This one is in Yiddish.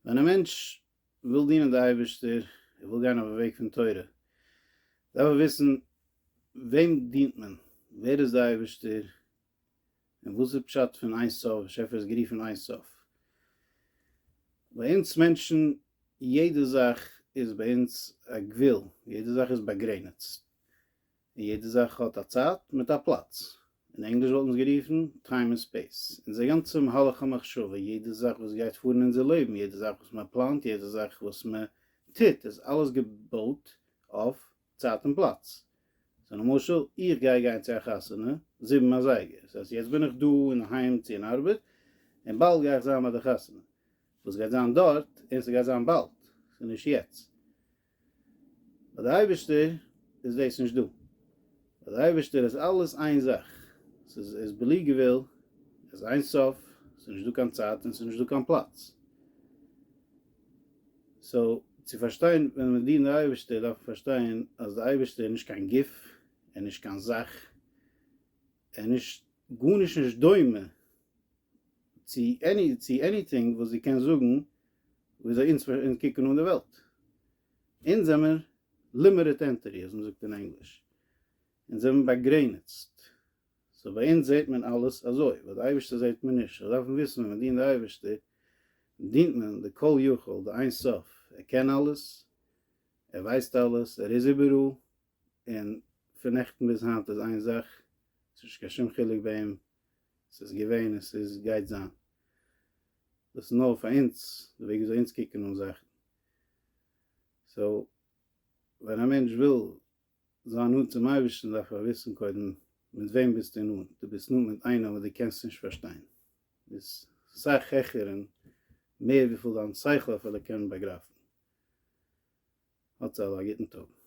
ווען א מענטש וויל דינען די אייבערשטער, ער וויל גיין אויפן וועג פון תורה, דארף ער וויסן וועם דינט מען, ווער איז די אייבערשטער, און וואס איז פשט פון איין סוף, באשעפער איז גערופן איין סוף. ביי אונז מענטשן, יעדע זאך איז ביי אונז א גבול, יעדע זאך איז באגרעניצט. און יעדע זאך האט א צייט מיט א פלאץ, אין ענגליש וואלט מען עס גערופן טיים און ספעיס, אונזער גאנצע מהלך המחשבה, יעדע זאך וואס גייט פאר אין אונזער לעבן, יעדע זאך וואס מען פלאנט, יעדע זאך וואס מען טוט, איז אלעס געבויט אויף צייט און פלאץ. סאו למשל, איך גיי גיין צו א חתונה זיבן אזייגער, ס'הייסט יעצט בין איך דא און אהיים צו אין ארבעט, און באלד גיי איך זיין ביי די חתונה, וואס גייט זיין דארט, און ס'גייט זיין באלד, ס'איז נישט יעצט. ביי די אייבערשטער איז דאס נישט דא, ביי די אייבערשטער איז אלעס איין זאך, ס'איז עס בלי גבול, עס איז אין סוף, ס'איז נישט דא קיין צייט און ס'איז נישט דא קיין פלאץ. סאו צו פארשטיין ווען מיר דינען די אייבערשטער דארף מען פארשטיין אז די אייבערשטער איז נישט קיין גוף, ער איז נישט קיין זאך, ער איז נישט גארנישט נישט דומה, צו עני צו עניטינג וואס זי קען זאגן וויאזוי אונז אונז קוקן אן די וועלט. אונז זעמער לימיטעד ענטיטי אזוי מ'זאגט אין ענגליש. אונז זעמער באגרעניצט. סאו ביי אונז זעט מען אלעס אזוי, ביי די אייבערשטער זעט מען נישט. אונז דארפן וויסן ווען מ'דינט די אייבערשטער, דינט מען די כל יכול, די אין סוף. ער קען אלעס, ער ווייסט אלעס, ער איז איבעראל, און פון נעכטן ביז היינט איז איין זאך, ס'איז נישט קיין שום חילוק ביי אים, ס'איז געווען און ס'איז גייט זיין. דאס איז נאר פאר אונז, די וועג וויאזוי אונז קוקן אן זאכן. סאו, ווען א מענטש וויל זיין נאנט צום אייבערשטן דארף ער וויסן קודם מיט וועם ביסטו נאנט, דו ביסט נאנט מיט איינעם וואס דו קענסט נישט פארשטיין, ביסט סאך העכער און מער וויפיל דיין שכל אפילו קען באגרייפן. האטס אלע א גוטן טאג.